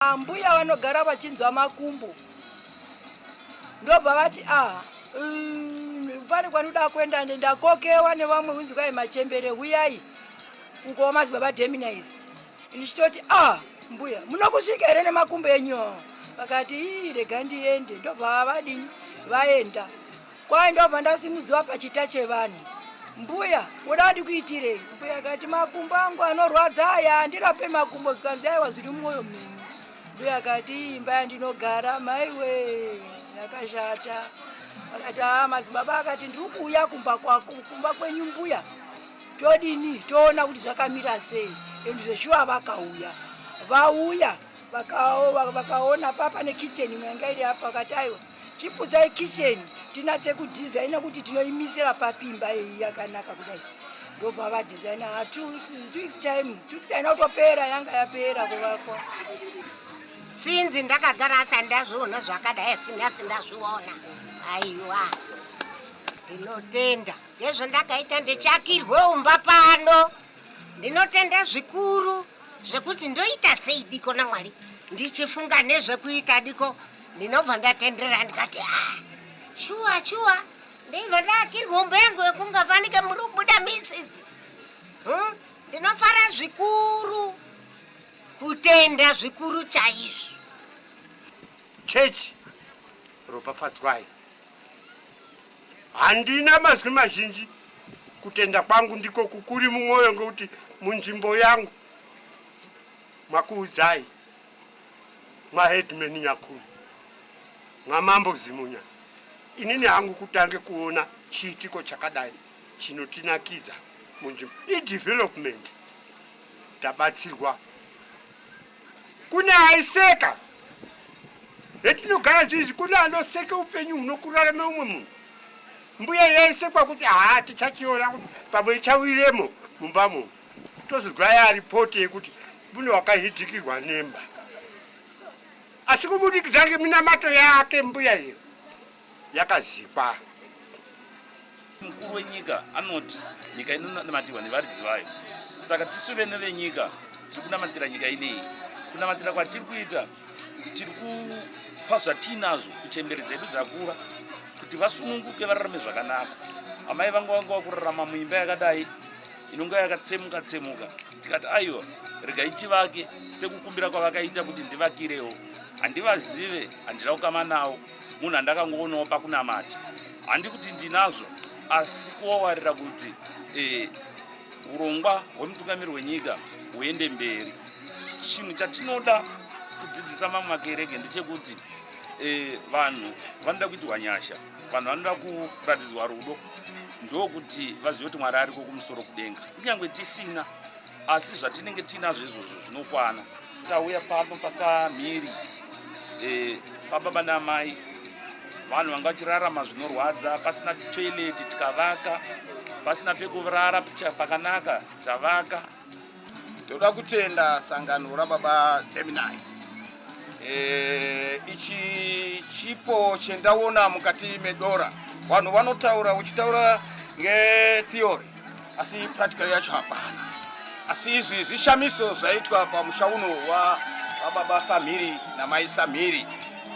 Ambuya vanogara vachinzwa makumbo ndobva vati aha mm, pane kwanoda kuenda ndakokewa nevamwe unzi kwai machembere huyai uko madzibaba deminise ndichitoti ah mbuya munokusvika here nemakumbo enyu vakati ii rega ndiende ndobva vadini vaenda Kwaye ndobva ndasimudziwa pachita chevanhu. Mbuya, woda ndikuitirei? Mbuya akati, makumbo angu anorwadza aya, ndirape makumbo zvikanzi aiwa zviri mumwoyo menyu. Mbuya akati, imba yandinogara, maiwe, yakashata. Akati, haa madzibaba akati, ndiri kuuya kumba kwako, kumba kwenyu mbuya. Todini, toona kuti zvakamira sei. And zveshuwa vakauya. Vauya, vakaona papa nekicheni mwanga iri apa, akati aiwa. Chiputsai kitchen tinatse kudesigner kuti tinoimisira papi imba iyi yakanaka kudai. Ndobva vadesigner ha ah, two weeks, two weeks time, two weeks haina kutopera yanga yapera kuvakwa. Sinzi ndakagara asi handazviona zvakadai singasi ndazviona. Aiwa. Ndinotenda. Ndezvo ndakaita ndichakirwe umba pano. Ndinotenda zvikuru zvekuti ndoita sei diko namwari ndichifunga nezvekuita diko ndinobva ndatenderera ndikati ah, shuwa shuwa ndibva ndakirwa hombo yangu yekunga fanike muri kubuda misis hmm? ndinofara zvikuru kutenda zvikuru chaizvo chechi ropafadzwai handina mazwi mazhinji kutenda kwangu ndiko kukuri mumwoyo ngokuti munzvimbo yangu makuudzai Maheadman Nyakuni naMambo Zimunya, inini hangu kutange kuona chiitiko chakadai chinotinakidza munzvimbo idevelopment tabatsirwa. Kune aiseka hetinogara zvizi, kune anoseka upenyu hunokurarama umwe munhu. Mbuya yaisekwa kuti haa tichachiona pamwe ichawiremo mumba munhu. tozodzwaya ripoti yekuti mune wakahidhikirwa nemba asi kubudikidza ngeminamato yake mbuya iyo yakazikwa mukuru wenyika anoti nyika inonamatihwa nevaridzi vayo saka tisu vene venyika tiri kunamatira nyika ineyi kunamatira kwatiri kuita tiri kupa zvatiinazvo kuchemberi dzedu dzakura kuti vasununguke vararame zvakanaka amai vangu vanga vakurarama muimba yakadai inonga yakatsemuka tsemuka tikati aiwa regai tivake sekukumbira kwavakaita kuti ndivakirewo handivazive handina kukama nawo munhu andakangoonawo pakunamata handi kuti ndinazvo asi kuowarira kuti eh, urongwa hwemutungamiri wenyika huende mberi chinhu chatinoda kudzidzisa mamwe makereke ndechekuti eh, vanhu vanoda kuitirwa nyasha vanhu vanoda kuratidzwa rudo ndokuti vazive kuti mwari ariko kumusoro kudenga kunyange tisina asi zvatinenge tiinazvo izvozvo zvinokwana tauya pano pasamhiri e, pababa naamai vanhu vanga vachirarama zvinorwadza pasina toileti tikavaka pasina pekurara pakanaka tavaka Toda kutenda sangano rababa Gemini. Eh, ichi chipo chendaona mukati medora. Vanhu vanotaura uchitaura ngetheory asi practical yacho hapana. Asi izvi zvishamiso zvaitwa pamusha uno wa baba Samhiri na mai Samhiri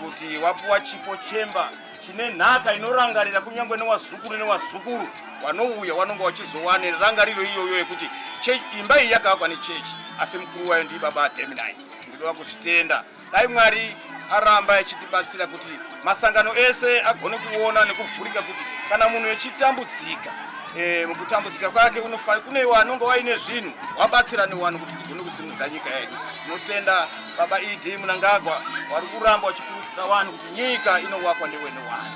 kuti wapuwa chipo chemba chine nhaka inorangarira kunyange newazukuru newazukuru wanouya wanonga wachizowane rangariro iyoyo yekuti imba iyi yakavakwa nechechi asi mukuru wayo ndii baba ademinise ndinoda kuzvitenda dai mwari aramba achitibatsira kuti masangano ese agone kuona nekuvhurika kuti kana munhu echitambudzika eh, mukutambudzika kwake kune iwo anonga waine zvinhu wabatsira newani kuti tigone kusi dzanyika yedu. Tinotenda Baba ED Mnangagwa vari kuramba vachikurudzira vanhu kuti nyika inowakwa ndewene wani.